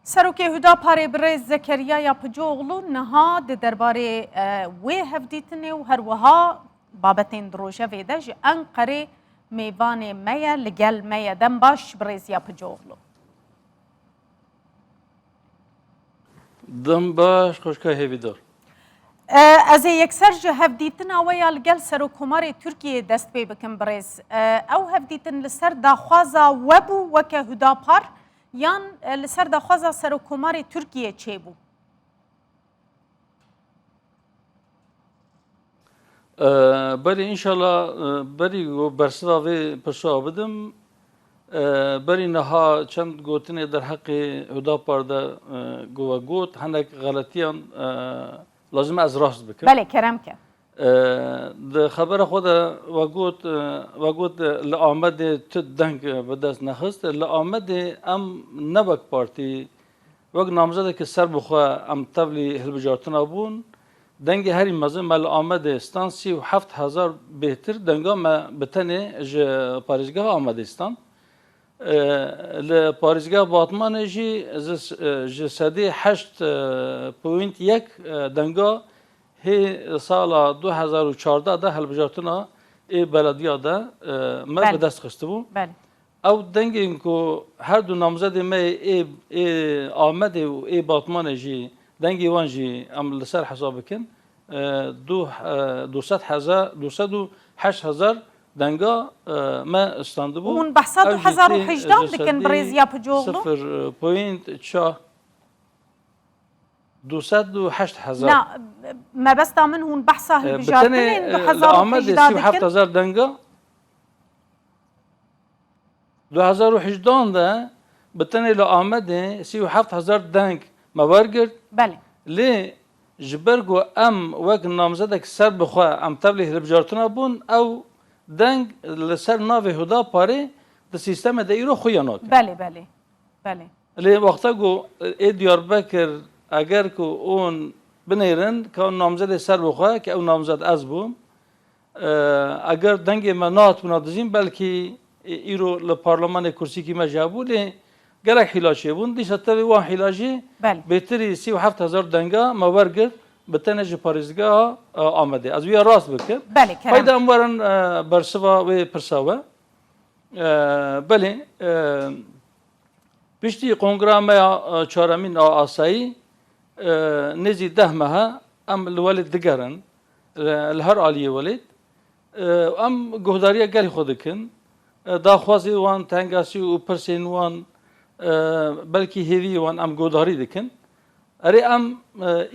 Serokê Hudaparê birêz Zekeriya Yapıcıoğlu niha di derbarê wê hevdîtinê û herwiha babetên di rojevê de ji Enqerê mêvanê me ye li gel me ye. Dem baş birêz Yapıcıoğlu. Dem baş xweşka hêvîdar. Ez ê yekser ji hevdîtina we ya li gel Serokkomarê Tirkiyeyê dest pê bikim birêz. Ew hevdîtin li ser daxwaza we bû weke Hudapar Yan li ser daxwaza Serokkomarê Tirkiyê çê bû? Berê înşala berî bersiva vê pirsoa bidim. Berî niha çend gotinê derheqê Hudapar de gova got hinek xeletiyan lazim ez rast bikim. Belê kerem ke. Di xebera xwe de we got we got li Amedê tu deng bi dest nexist. Li Amedê em ne wek partî wek namzedekî ser bi xwe em tevlî hilbijartina bûn. Dengê herî mezin me li Amedê stan sî û heft hezar bêhtir denga me bi tenê ji parêzgeha Amedê stan. Li parêzgeha Batmanê jî ji sedî heşt poynt yek denga Hê sala du hezar û çardeh de hilbijartina ê belediya de me bi dest xistibû. Ew dengên ku her du namzedê me yê ê Amedê û ê Batmanê jî dengê wan jî em li ser hesab bikin du sed heza du sed û heşt hezar denga me standibû. Hûn behsa du hezar û hejdah dikin birêz Yapıcıoğlu? Sifir point çar. Du sed û heşt hezar. Na, mebesta min hûn behsa hilbijartinên du hezar û hejdeh dikin. Bi tenê li Amedê sî û heft hezar denga du hezar û hejdeh de bi tenê li Amedê sî û heft hezar deng me wergirt. Belê. Lê ji ber ku em wek namzedek ser bi xwe em tevlî hilbijartina bûn ew deng li ser navê Hudaparê di sîstemê de îro xwe ya nake. Belê, belê, belê. Lê wexta ku ê Diyarbekir eger ku ûn binêrin ka namzedê ser bi xwe ki ew namzed ez bûm eger dengê me nehatibûna dijîn belkî îro li parlemanê kursîkî me jî hebû lê gelek hîla çêbûn dîsa tevî wan hîla jî bêtirî sî û heft hezar denga me wergirt bi tenê ji parêzgeha Amedê. Ez wîya rast bikim. Heyde em werin bersiva wê pirsa we. Belê Piştî kongra me ya çaremîn a asayî nêzî deh mehe em li welêt digerin li her aliyê welêt em guhdariya gelê xwe dikin daxwazê wan tengasî û pirsên wan belkî hêviyê wan em guhdarî dikin. Erê em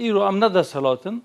îro em ne desthilatin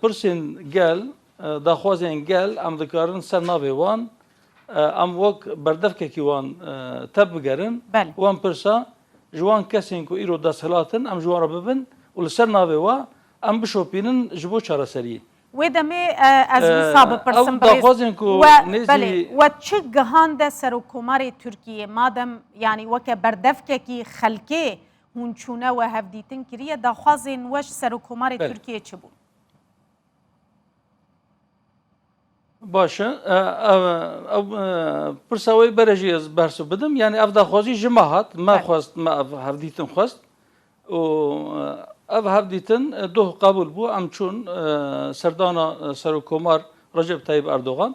Pirsên gel, daxwazên gel em dikarin ser navê wan em wek berdevkekî wan tevbigerin û em pirsa ji wan kesên ku îro desthilat in em ji wan re bibin û li ser navê wan em bişopînin ji bo çareseriyê. Wê demê ez wisa bipirsim birêz we belê we çi gihande Serokkomarê Tirkiyê madem yanî weke berdevkekî xelkê Hûn çûne we hevdîtin kiriye. Daxwazên we ji Serokkomarê Tirkiyê çi bûn? Baş e. Ew pirsa wê bere jî ez bersiv bidim. Yanî ev daxwazî ji me hat. Me xwest, me ev hevdîtin xwest. û ev hevdîtin doh qebûl bû. Em çûn serdana Serokkomar Recep Tayîp Erdogan.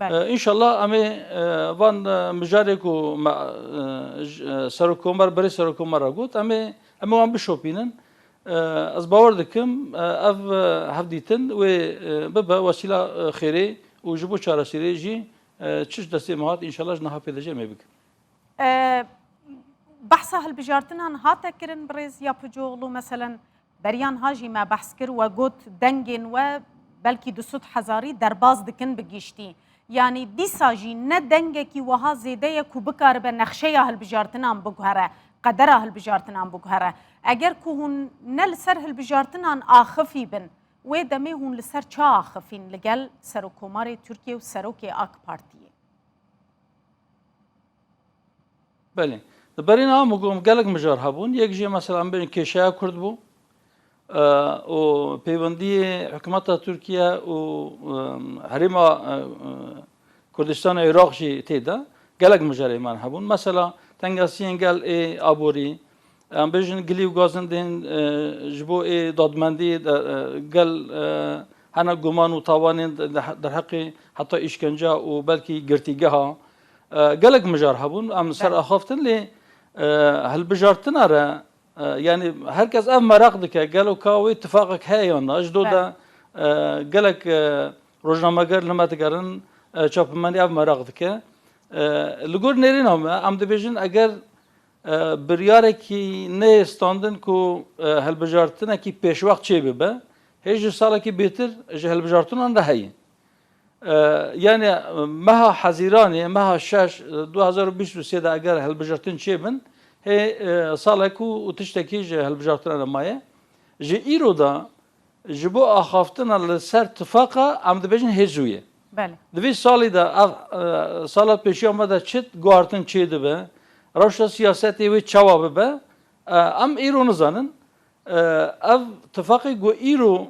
Înşallah em ê van mijarê ku me serokkomer berê serokkomer re got em ê em ê wan bişopînin. Ez bawer dikim ev hevdîtin wê bibe wesîla xêrê û ji bo çareseriyê jî çi ji destê me hat înşallah ji niha pêdivê em ê bikin. Behsa hilbijartinan hate kirin birêz Yapıcıoğlu meselen Beriyan Hajî me behs kir we got dengên we belkî di sud hezarî derbas dikin bi giştî. Yanî dîsa jî ne dengekî wiha zêde ye ku bikaribe nexşeya hilbijartinan biguhere, qedera hilbijartinan biguhere. Eger ku hûn ne li ser hilbijartinan axifî bin, wê demê hûn li ser ça axifîn li gel Serokkomarê Tirkiyê û Serokê AK Partiyê? Belê. Di berî na min got gelek mijar hebûn. Yek jê mesela em bêjin kêşeya Kurd bû û pêwendiyê hikûmeta Tirkiye û herêma Kurdistana Iraq jî tê de gelek mijar ê man hebûn. Mesela tengasiyên gel ê aborî em bêjin gilî û gazin dên ji bo ê dadmendî gel hena guman û tawanên derheqê heta îşkenca û belkî girtîgeha Gelek mijar hebûn em li ser axaftin lê hilbijartina re yanî her kes ev meraq dike gelo ka wê tifaqek heye yan na ji do de gelek rojnameger li me digerin çapemenê ev meraq dike. Li gor nêrîna me em dibêjin eger biryarekî neyê standin ku hilbijartinekî pêşwext çêbibe hê ji salekî bêtir ji hilbijartinan re heye. Yanê meha Hezîranê, meha şeş du hezar û bîst û sê de eger hilbijirtin çêbin, hê salek û tiştekî ji hilbijartina re maye. Ji îro de ji bo axaftina li ser tifaqa em dibêjin hê zû ye. Di vê salî de ev sala pêşiya me de çi guhartin çêdibe, rewşa siyasetê wê çawa bibe, em îro nizanin. Ev tifaqê ku îro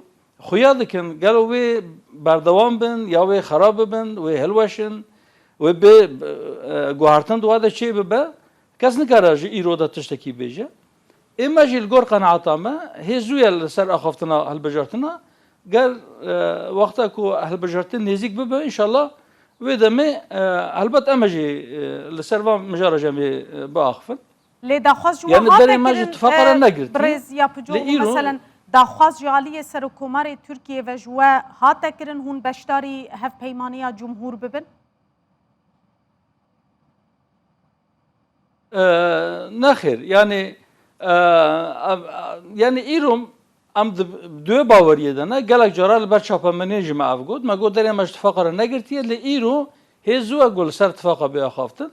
Xuya dikin gelo wê berdewam bin ya wê xerab bibin, wê hilweşin, wê bê guhertin di we de çê bibe, kes nikare ji îro de tiştekî bêje. Ê me jî li gor qenaeta me hê zû ye li ser axaftina hilbijartina, ger wexta ku hilbijartin nêzîk bibe înşala wê demê helbet em jî li ser van mijara jemê biaxivin. Lê daxwaz ji wan hate kirin birêz ya Picoğlu meselen daxwaz ji aliyê Serokomarê Tirkiyê ve ji we hate kirin hûn beşdarî hevpeymaniya cumhûr bibin? Nexêr yanî yanî îro em di duê baweriyê de ne gelek cara li ber çapemeniyê jî me ev got me got derê me ji tifaqa re negirtiye lê îro hê zû e ku li ser tifaqa bê axaftin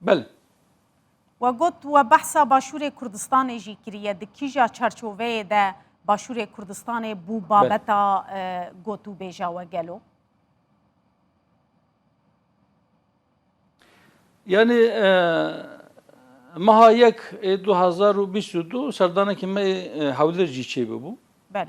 Bil. We got we behsa Başûrê Kurdistanê jî kiriye, di kîja çarçoveyê de Başûrê Kurdistanê bû babeta gotûbêja we gelo? Yanî meha yek ê du hezar û bîst û du serdanekî me ê Hewlêr jî çêbûbû. Belê.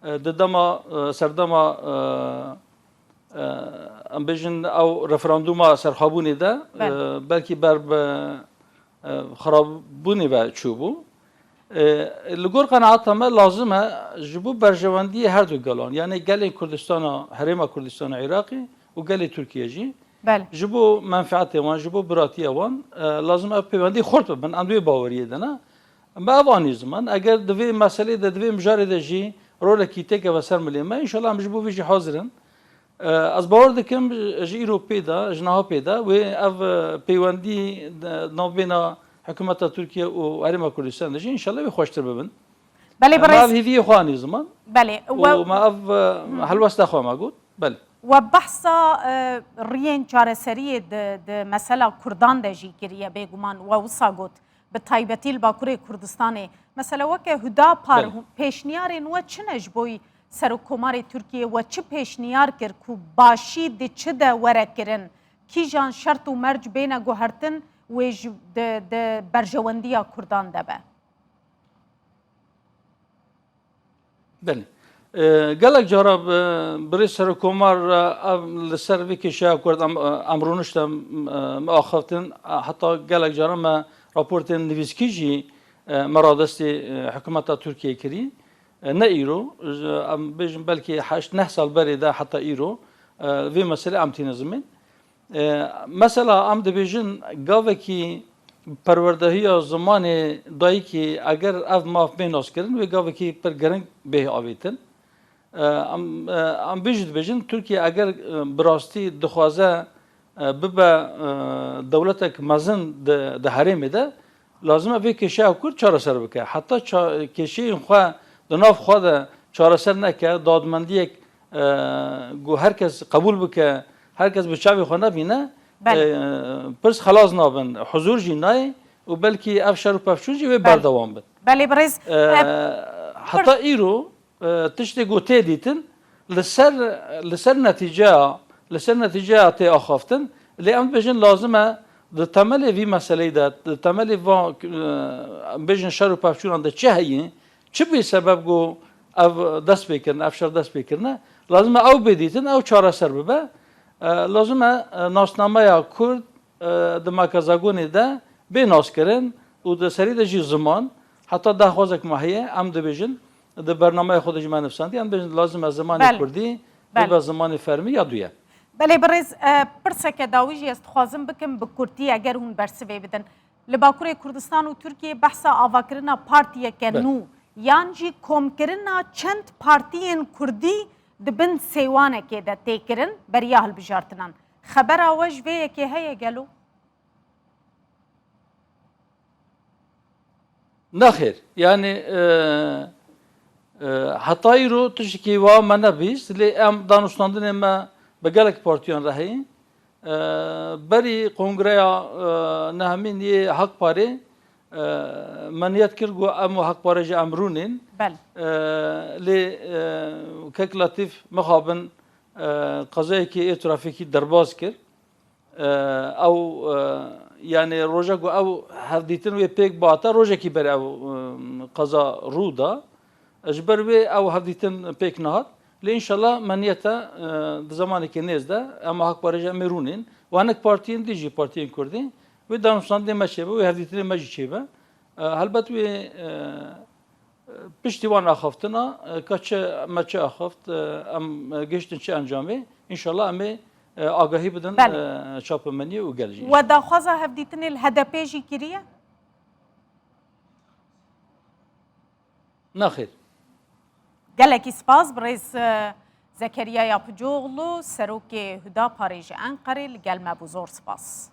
Di dema serdema em bêjin ew referandûma serxwebûnê de belkî ber bi xirabûnê ve çûbû. Li gor qenaata me lazim e ji bo berjewendiyê her du gelan yanê gelê Kurdistana Herêma Kurdistana Iraqê û gelê Tirkiye jî ji bo menfeetê wan ji bo biratiya wan lazim e pêwendî xurt bibin. Em di wê baweriyê de ne. Me ev anî ziman, eger di vê meselê de, di vê mijarê de jî rolekî tê keve ser milê me, înşallah em ji bo vê jî hazir in. Ez bawer dikim ji îro pê de, ji niha pê de wê ev peywendî di navbêna hikûmeta Tirkiye û Herêma Kurdistanê de jî înşallah wê xweştir bibin. Belê Me birêz. ev hêviyê xwe anî ziman Belê. û We me ev helwesta xwe me got. Belê. we behsa e, riyên çareseriyê di di mesela Kurdan de jî kiriye bêguman. We wisa got. bi taybetî li Bakurê Kurdistanê. Mesela weke Hudapar Belê. pêşniyarên we çi ne ji boî Serokkomarê Tirkiyê we çi pêşniyar kir ku başî di çi de were kirin? Kîjan şert û merc bêne guhertin wê ji di di berjewendiya Kurdan de be? Belê. Gelek cara birê serokomar ev li ser vê kêşeya ku em rûnişte me axaftin heta gelek cara me raportên nivîskî jî me radestê hikûmeta Tirkiyeyê kirî. Ne îro em bêjin belkî heşt neh sal berê de heta îro vê meselê em tîne zimên. Mesela em dibêjin gavekî perwerdehiya zimanê dayikê eger ev maf bê naskirin wê gavekî pir giring bê avêtin. Em vê jî dibêjin Tirkiye eger bi rastî dixwaze bibe dewletek mezin di herêmê de lazim e vê kêşeya Kurd çareser bike. Heta kêşeyên xwe di nav xwe de çareser neke, dadmendiyek Ku her kes qebûl bike, her kes bi çavê xwe nebîne, pirs xelas nabin, huzûr jî nayê û belkî ev şer û pevçûn jî wê berdewam bin. Belê birêz. Heta îro tiştê ku tê dîtin li ser li ser netîceya li ser netîceya tê axaftin. Lê em dibêjin lazim e di temelê vî meseleyî de di temelê van bêjin şer û pevçûnan de çi heye Çi bûye sebeb ku ev destpêkirine, ev şer destpêkirine? Lazim e ew bê dîtin, ew çareser bibe. Lazim e nasnameya Kurd di makezagonê de bê naskirin û di serî de jî ziman. Heta daxwazek ma heye, em dibêjin, di bernameya xwe de jî me nivîsandiye, em dibêjin lazim e zimanê Kurdî bibe zimanê fermî ya duyem. Belê birêz, pirseke dawî jî ez dixwazim bikim bi kurtî eger hûn bersivê bidin. Li Bakurê Kurdistan û Tirkiyeyê behsa avakirina partiyeke nû yan jî komkirina çend partiyên kurdî di bin sêwanekê de tê kirin beriya hilbijartinan. Xebera we ji vê yekê heye gelo? Nexêr, yanî heta îro tiştekî wa me nebîst lê em danûstandinê me bi gelek partiyan re heye. Berî kongreya nehemîn yê Hak Parê me niyet kir ku em û Hak Pare jî em rûnên. Lê Kek Letîf mixabin qezayekî yê trafîkî derbas kir. Ew yanê roja ku ew hevdîtin wê pêk bate rojekî ber ew qeza rû da. Ji ber wê ew hevdîtin pêk nehat. Lê înşallah me niyete di zemanekî nêz de em hak parêje em ê rûnên û hinek partiyên din jî partiyên Kurdî wê danûstandinê me çêbe wê hevdîtinê me jî çêbe. Helbet wê Piştî wan axaftina ka çi me çi axaft em gihiştin çi encamê înşallah emê agahî bidin çapemeniyê û gel jî. We daxwaza hevdîtinê li HDP'ê jî kiriye? Nexêr. Gelekî spas birêz Zekeriya Yapicoglû, Serokê Hudaparê ji Enqerê li gel me bû. Zor spas.